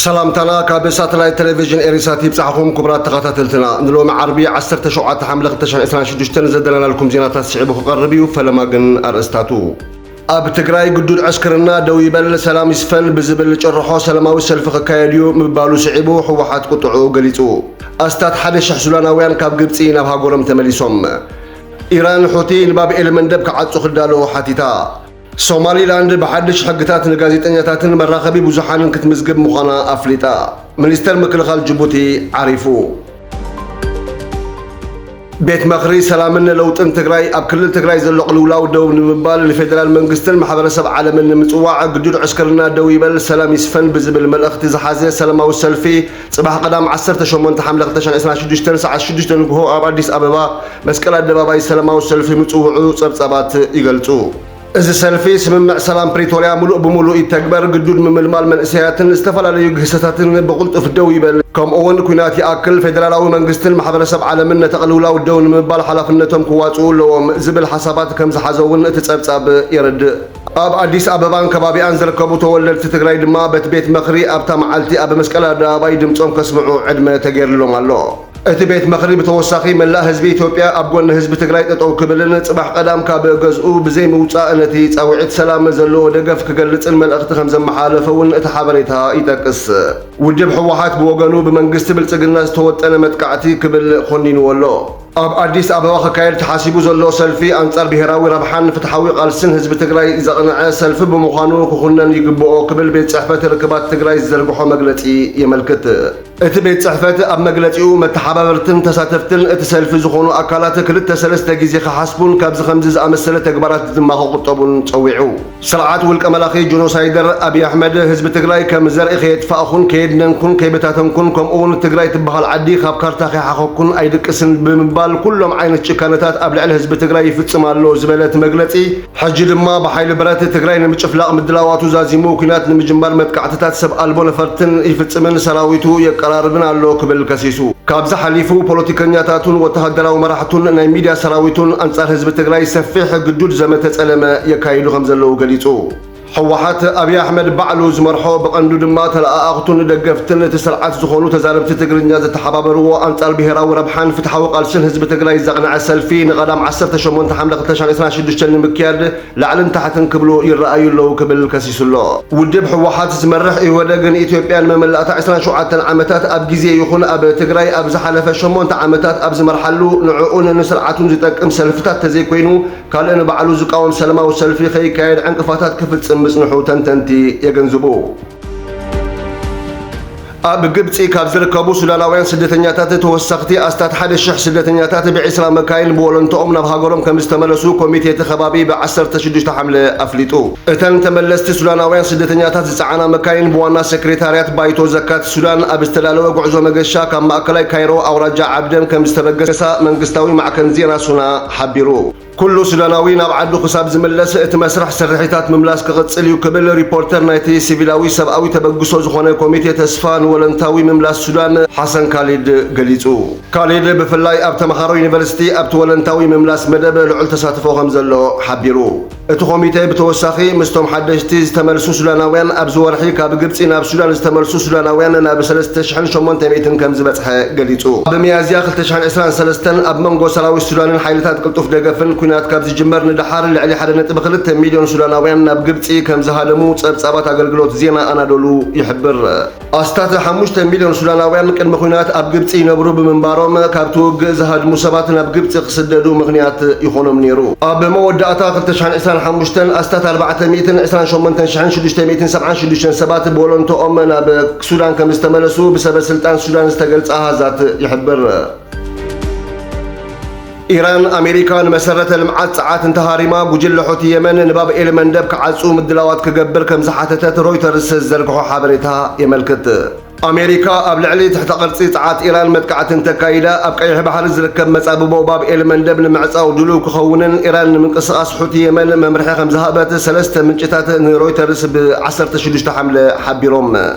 ሰላምታና ካብ ሳተላይት ቴሌቪዥን ኤሪሳት ይብጻሕኹም ክቡራት ተኸታተልትና ንሎሚ ዓርቢ 17 ሓምለ 2026 ዘደለናልኩም ዜናታት ስዒቡ ክቐርብ እዩ ፈለማ ግን ኣርእስታቱ ኣብ ትግራይ ግዱድ ዕስክርና ደው ይበል ሰላም ይስፈን ብዝብል ጭርሖ ሰላማዊ ሰልፊ ክካየድ እዩ ምባሉ ስዒቡ ህወሓት ቁጥዕኡ ገሊፁ። ኣስታት ሓደ ሽሕ ሱዳናውያን ካብ ግብፂ ናብ ሃገሮም ተመሊሶም። ኢራን ሑቲ ንባብ ኤልመንደብ ክዓጹ ክዳለዉ ሓቲታ። ሶማሊላንድ ብሓድሽ ሕግታት ንጋዜጠኛታትን መራኸቢ ብዙሓንን ክትምዝግብ ምዃና ኣፍሊጣ። ሚኒስተር ምክልኻል ጅቡቲ ዓሪፉ። ቤት መኽሪ ሰላምን ለውጥን ትግራይ ኣብ ክልል ትግራይ ዘሎ ቅልውላው ደው ንምባል ንፌዴራል መንግስትን ማሕበረሰብ ዓለምን ንምፅዋዕ ግዱድ ዕስክርና ደው ይበል ሰላም ይስፈን ብዝብል መልእኽቲ ዝሓዘ ሰላማዊ ሰልፊ ፅባሕ ቀዳም 18 ሓምለ 2026 ሰዓት 6 ንግሆ ኣብ ኣዲስ ኣበባ መስቀል ኣደባባይ ሰላማዊ ሰልፊ ምፅውዑ ፀብፃባት ይገልፁ። እዚ ሰልፊ ስምምዕ ሰላም ፕሪቶርያ ምሉእ ብምሉእ ይተግበር፣ ግዱድ ምምልማል መንእሰያትን ዝተፈላለዩ ግህሰታትን ብቕልጡፍ ደው ይበል፣ ከምኡ'ውን ኲናት ይኣክል፣ ፌደራላዊ መንግስትን ማሕበረሰብ ዓለምን ነቲ ቅልውላው ደው ንምባል ሓላፍነቶም ክዋጽኡ ኣለዎም ዝብል ሓሳባት ከም ዝሓዘ'ውን እቲ ጸብጻብ የረድእ። ኣብ ኣዲስ ኣበባን ከባቢኣን ዝርከቡ ተወለድቲ ትግራይ ድማ በቲ ቤት መኽሪ ኣብታ መዓልቲ ኣብ መስቀል ኣደባባይ ድምጾም ከስምዑ ዕድመ ተገይርሎም ኣሎ። እቲ ቤት ምኽሪ ብተወሳኺ መላእ ህዝቢ ኢትዮጵያ ኣብ ጎኒ ህዝቢ ትግራይ ጠጠው ክብልን ፅባሕ ቀዳም ካብ ገዝኡ ብዘይምውፃእ ነቲ ፃውዒት ሰላም ዘለዎ ደገፍ ክገልፅን መልእኽቲ ከምዘመሓላለፈ እውን እቲ ሓበሬታ ይጠቅስ። ውድብ ህወሓት ብወገኑ ብመንግስቲ ብልፅግና ዝተወጠነ መጥቃዕቲ ክብል ኾኒንዎ ኣሎ። ኣብ ኣዲስ ኣበባ ክካየድ ተሓሲቡ ዘሎ ሰልፊ ኣንፃር ብሄራዊ ረብሓን ፍትሓዊ ቓልስን ህዝቢ ትግራይ ዘቕነዐ ሰልፊ ብምዃኑ ክኹነን ይግበኦ ክብል ቤት ፅሕፈት ርክባት ትግራይ ዝዘርግሖ መግለፂ የመልክት። እቲ ቤት ፅሕፈት ኣብ መግለፂኡ መተሓባበርትን ተሳተፍትን እቲ ሰልፊ ዝኾኑ ኣካላት ክልተ ሰለስተ ግዜ ክሓስቡን ካብዚ ከምዚ ዝኣመሰለ ተግባራት ድማ ክቑጠቡን ፀዊዑ። ስርዓት ውልቀ መላኺ ጆኖሳይደር ኣብይ ኣሕመድ ህዝቢ ትግራይ ከም ዘርኢ ከየጥፋእኹን ከየድነንኩን ከይበታተንኩን ከምኡ እውን ትግራይ ትበሃል ዓዲ ካብ ካርታ ከይሓኸኩን ኣይድቅስን ብምባል ኩሎም ዓይነት ጭካነታት ኣብ ልዕሊ ህዝቢ ትግራይ ይፍፅም ኣሎ ዝበለ እቲ መግለፂ ሕጂ ድማ ብሓይሊ ብረት ትግራይ ንምጭፍላቕ ምድላዋቱ ዛዚሙ ኲናት ንምጅማር መጥቃዕትታት ሰብ ኣልቦ ነፈርትን ይፍጽምን ሰራዊቱ የቀራርብን ኣሎ ክብል ከሲሱ። ካብዚ ሓሊፉ ፖለቲከኛታቱን ወተሃደራዊ መራሕቱን ናይ ሚድያ ሰራዊቱን ኣንጻር ህዝቢ ትግራይ ሰፊሕ ግዱድ ዘመተ ጸለመ የካይዱ ከምዘለዉ ገሊጹ። ህወሓት፣ ኣብይ ኣሕመድ ባዕሉ ዝመርሖ፣ ብቐንዱ ድማ ተለኣኣኽቱን ደገፍትን እቲ ስርዓት ዝኾኑ ተዛረብቲ ትግርኛ ዝተሓባበርዎ ኣንጻር ብሄራዊ ረብሓን ፍትሓዊ ቃልስን ህዝቢ ትግራይ ዘቕነዐ ሰልፊ ንቀዳም ዓሰርተ ሸሞንተ ሓምለ ክልተ ሽሕን ዒስራን ሽዱሽተን ንምክያድ ላዕልን ታሕትን ክብሉ ይረኣዩ ኣለዉ ክብል ከሲሱ'ሎ። ውድብ ህወሓት ዝመርሕ ኢህወደግ ንኢትዮጵያ ንመመላእታ ዕስራን ሸውዓተን ዓመታት ኣብ ግዜ ይኹን ኣብ ትግራይ ኣብ ዝሓለፈ ሸሞንተ ዓመታት ኣብ ዝመርሓሉ ንዕኡን ንስርዓቱን ዝጠቅም ሰልፍታት ተዘይኮይኑ ካልእ ንባዕሉ ዝቃወም ሰለማዊ ሰልፊ ከይካየድ ዕንቅፋታት ክፍጽም ምጽንሑ ተንተንቲ የገንዝቡ። ኣብ ግብጺ ካብ ዝርከቡ ሱዳናውያን ስደተኛታት ተወሰኽቲ ኣስታት ሓደ ሽሕ ስደተኛታት ብዒስራ መካይን ብወለንትኦም ናብ ሃገሮም ከምዝተመለሱ ኮሚቴ እቲ ከባቢ ብ ዓሰርተ ሽዱሽተ ሓምለ ኣፍሊጡ። እተን ተመለስቲ ሱዳናውያን ስደተኛታት ዝጸዓና መካይን ብዋና ሰክሬታርያት ባይቶ ዘካት ሱዳን ኣብ ዝተዳለወ ጉዕዞ መገሻ ካብ ማእከላይ ካይሮ ኣውራጃ ዓብደን ከምዝተበገሳ መንግስታዊ ማዕከን ዜና ሱና ሓቢሩ። ኩሉ ሱዳናዊ ናብ ዓዱ ክሳብ ዝምለስ እቲ መስርሕ ስርሒታት ምምላስ ክቕጽል እዩ ክብል ሪፖርተር ናይቲ ሲቪላዊ ሰብኣዊ ተበግሶ ዝኾነ ኮሚቴ ተስፋ ንወለንታዊ ምምላስ ሱዳን ሓሰን ካሊድ ገሊጹ። ካሊድ ብፍላይ ኣብ ተመሃሮ ዩኒቨርሲቲ ኣብቲ ወለንታዊ ምምላስ መደብ ልዑል ተሳትፎ ከምዘሎ ሓቢሩ። እቲ ኮሚቴ ብተወሳኺ ምስቶም ሓደሽቲ ዝተመልሱ ሱዳናውያን ኣብዚ ወርሒ ካብ ግብፂ ናብ ሱዳን ዝተመልሱ ሱዳናውያን ናብ ሰለስተ ሽሕን ሸሞንተ ሚእትን ከምዝበፅሐ ገሊፁ። ኣብ ሚያዝያ ክልተ ሽሕን ዕስራን ሰለስተን ኣብ መንጎ ሰራዊት ሱዳንን ሓይልታት ቅልጡፍ ደገፍን ኲናት ካብ ዝጅመር ንደሓር ልዕሊ ሓደ ነጥቢ ክልተ ሚልዮን ሱዳናውያን ናብ ግብፂ ከምዝሃደሙ ፀብፃባት ኣገልግሎት ዜና ኣናዶሉ ይሕብር። ኣስታት ሓሙሽተ ሚልዮን ሱዳናውያን ቅድሚ ኹናት ኣብ ግብጺ ይነብሩ ብምንባሮም ካብቲ ውግእ ዝሃድሙ ሰባት ናብ ግብጺ ክስደዱ ምኽንያት ይኾኖም ነይሩ። ኣብ መወዳእታ ክልተ ሽሕን ዕስራን ሓሙሽተን ኣስታት ኣርባዕተ ሚእትን ዕስራን ሸሞንተን ሽሕን ሽዱሽተ ሚእትን ሰብዓን ሽዱሽተን ሰባት ብወለንትኦም ናብ ሱዳን ከምዝተመለሱ ብሰበ ስልጣን ሱዳን ዝተገልጸ ኣሃዛት ይሕብር። ኢራን፣ ኣሜሪካ ንመሰረተ ልምዓት ጸዓት እንተሃሪማ፣ ጉጅለ ሑቲ የመን ንባብ ኤል መንደብ ክዓጹ ምድላዋት ክገብር ከም ዝሓተተት ሮይተርስ ዝዘርግሖ ሓበሬታ የመልክት። ኣሜሪካ ኣብ ልዕሊ ትሕተ ቅርጺ ጸዓት ኢራን መጥቃዕቲ እንተካይዳ፣ ኣብ ቀይሕ ባሕሪ ዝርከብ መጻብቦ ባብ ኤል መንደብ ንምዕጻው ድሉው ክኸውንን ኢራን ንምንቅስቓስ ሑቲ የመን መምርሒ ከም ዝሃበት ሰለስተ ምንጭታት ንሮይተርስ ብ ዓሰርተ ሽዱሽተ ሓምለ ሓቢሮም።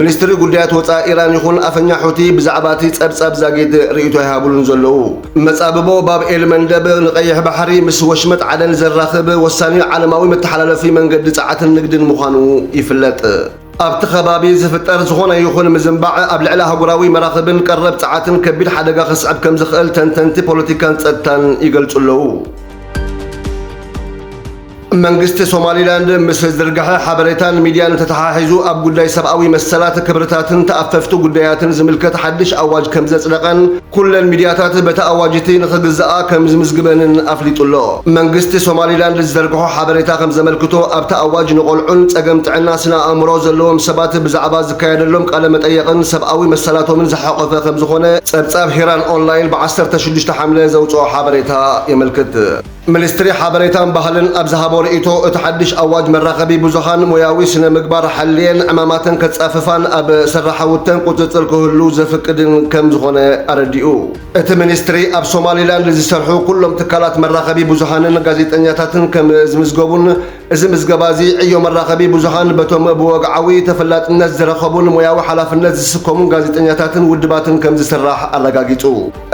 ሚኒስትሪ ጉዳያት ወፃኢ ኢራን ይኹን ኣፈኛ ሑቲ ብዛዕባ እቲ ፀብፃብ ዛጊድ ርእይቶ ኣይሃቡሉን ዘለዉ። መፃብቦ ባብ ኤል መንደብ ንቀይሕ ባሕሪ ምስ ወሽመጥ ዓደን ዘራኽብ ወሳኒ ዓለማዊ መተሓላለፊ መንገዲ ፀዓትን ንግድን ምዃኑ ይፍለጥ። ኣብቲ ከባቢ ዝፍጠር ዝኾነ ይኹን ምዝንባዕ ኣብ ልዕሊ ኣህጉራዊ መራኽብን ቀረብ ፀዓትን ከቢድ ሓደጋ ከስዕብ ከምዝኽእል ተንተንቲ ፖለቲካን ፀጥታን ይገልፁ ኣለዉ። መንግስቲ ሶማሊላንድ ምስ ዝዝርግሐ ሓበሬታን ሚድያን ተተሓሒዙ ኣብ ጉዳይ ሰብኣዊ መሰላት፣ ክብርታትን ተኣፈፍቲ ጉዳያትን ዝምልከት ሓድሽ ኣዋጅ ከምዘፅደቐን ኩለን ሚድያታት በቲ ኣዋጅ እቲ ንኽግዘኣ ከምዝምዝግበንን ኣፍሊጡ ኣሎ። መንግስቲ ሶማሊላንድ ዝዘርግሖ ሓበሬታ ከምዘመልክቶ ኣብቲ ኣዋጅ ንቖልዑን ፀገም ጥዕና ስነ ኣእምሮ ዘለዎም ሰባት ብዛዕባ ዝካየደሎም ቃለ መጠየቕን ሰብኣዊ መሰላቶምን ዝሓቖፈ ከምዝኾነ ፀብፃብ ሂራን ኦንላይን ብ ዓሰርተ ሽዱሽተ ሓምለ ዘውፅኦ ሓበሬታ የመልክት። ሚኒስትሪ ሓበሬታን ባህልን ኣብ ዝሃቦ ርእይቶ፣ እቲ ሓድሽ ኣዋጅ መራኸቢ ብዙሃን ሞያዊ ስነ ምግባር ሓልየን ዕማማተን ከጻፍፋን ኣብ ስራሓውተን ቁጽጽር ክህሉ ዘፍቅድን ከም ዝኾነ ኣረዲኡ። እቲ ሚኒስትሪ ኣብ ሶማሊላንድ ዝሰርሑ ኩሎም ትካላት መራኸቢ ብዙሃንን ጋዜጠኛታትን ከም ዝምዝገቡን፣ እዚ ምዝገባ እዚ ዕዮ መራኸቢ ብዙሃን በቶም ብወግዓዊ ተፈላጥነት ዝረኸቡን ሞያዊ ሓላፍነት ዝስከሙን ጋዜጠኛታትን ውድባትን ከም ዝስራሕ ኣረጋጊጹ።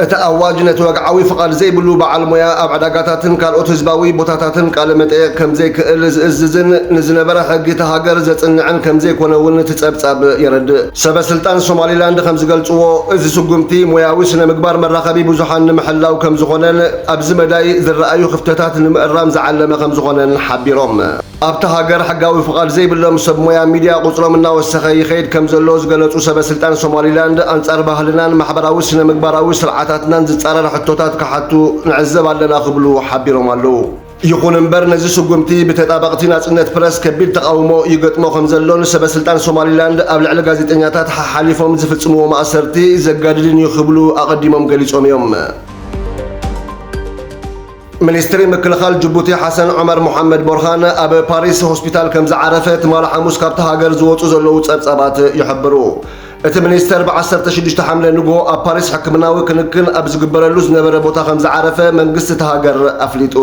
እቲ ኣዋጅ ነቲ ወግዓዊ ፍቓድ ዘይብሉ በዓል ሞያ ኣብ ዕዳጋታትን ካልኦት ህዝባዊ ቦታታትን ቃለ መጠየቕ ከም ዘይክእል ዝእዝዝን ንዝነበረ ሕጊ እታ ሃገር ዘጽንዕን ከም ዘይኮነ እውን እቲ ጸብጻብ የረድእ። ሰበ ስልጣን ሶማሊላንድ ከም ዝገልጽዎ፣ እዚ ስጉምቲ ሞያዊ ስነ ምግባር መራኸቢ ብዙሃን ንምሕላው ከም ዝኾነን፣ ኣብዚ መዳይ ዝረኣዩ ክፍተታት ንምእራም ዝዓለመ ከምዝኾነን ሓቢሮም። ኣብታ ሃገር ሕጋዊ ፍቓድ ዘይብሎም ሰብ ሞያ ሚዲያ ቁፅሮም እናወሰኸ ይኸይድ ከምዘሎ ዝገለፁ ሰበ ስልጣን ሶማሊላንድ ኣንፃር ባህልናን ማሕበራዊ ስነ ምግባራዊ ስርዓታትናን ዝፃረር ሕቶታት ክሓቱ ንዕዘብ ኣለና ክብሉ ሓቢሮም ኣለው። ይኹን እምበር ነዚ ስጉምቲ ብተጣበቕቲ ናጽነት ፕረስ ከቢድ ተቓውሞ ይገጥሞ ከምዘሎን ሰበስልጣን ሶማሊላንድ ኣብ ልዕሊ ጋዜጠኛታት ሓሓሊፎም ዝፍጽምዎ ማእሰርቲ ዘጋድድን እዩ ክብሉ ኣቐዲሞም ገሊጾም እዮም። ሚኒስትሪ ምክልኻል ጅቡቲ ሓሰን ዑመር ሞሓመድ ቦርሃን ኣብ ፓሪስ ሆስፒታል ከም ዝዓረፈ ትማል ሓሙስ ካብቲ ሃገር ዝወጹ ዘለዉ ጸብጻባት ይሕብሩ። እቲ ሚኒስተር ብ ዓሰርተ ሽዱሽተ ሓምለ ንግሆ ኣብ ፓሪስ ሕክምናዊ ክንክን ኣብ ዝግበረሉ ዝነበረ ቦታ ከምዝዓረፈ መንግስቲ እታ ሃገር ኣፍሊጡ።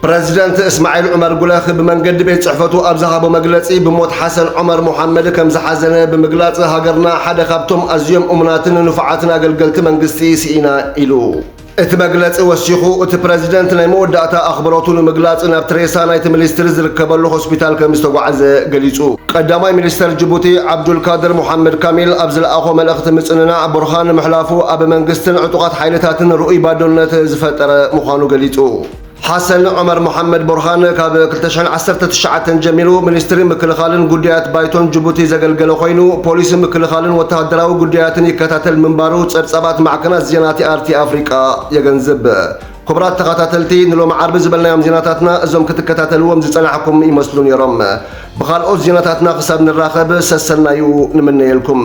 ፕረዚደንት እስማዒል ዑመር ጉለህ ብመንገዲ ቤት ጽሕፈቱ ኣብ ዝሃቦ መግለጺ ብሞት ሓሰን ዑመር ሞሓመድ ከምዝሓዘነ ብምግላጽ ሃገርና ሓደ ካብቶም ኣዝዮም እሙናትን ንፉዓትን ኣገልገልቲ መንግስቲ ስኢና ኢሉ። እቲ መግለጺ ወሲኹ፣ እቲ ፕረዚደንት ናይ መወዳእታ ኣኽብሮቱ ንምግላጽ ናብ ትሬሳ ናይቲ ምሊስትሪ ዝርከበሉ ሆስፒታል ከምዝተጓዕዘ ገሊጹ። ቀዳማይ ሚኒስተር ጅቡቲ ዓብዱልካድር ሞሓመድ ካሚል ኣብ ዝለኣኾ መልእኽቲ ምጽንናዕ ቡርሃን ምሕላፉ ኣብ መንግስትን ዕጡቓት ሓይልታትን ርኡይ ባዶነት ዝፈጠረ ምዃኑ ገሊጹ። ሓሰን ዑመር መሓመድ ቡርሃን ካብ ክልተ ሽሕን ዓሰርተ ትሽዓተን ጀሚሩ ሚኒስትሪ ምክልኻልን ጉዳያት ባይቶን ጅቡቲ ዘገልገለ ኮይኑ ፖሊሲ ምክልኻልን ወተሃደራዊ ጉዳያትን ይከታተል ምንባሩ ጸብጻባት ማዕከናት ዜና ቲኣርቲ ኣፍሪቃ የገንዝብ። ክቡራት ተኸታተልቲ ንሎሚ ዓርቢ ዝበልናዮም ዜናታትና እዞም ክትከታተልዎም ዝጸናሕኩም ይመስሉ ነይሮም። ብኻልኦት ዜናታትና ክሳብ ንራኸብ ሰሰናዩ ንምነየልኩም።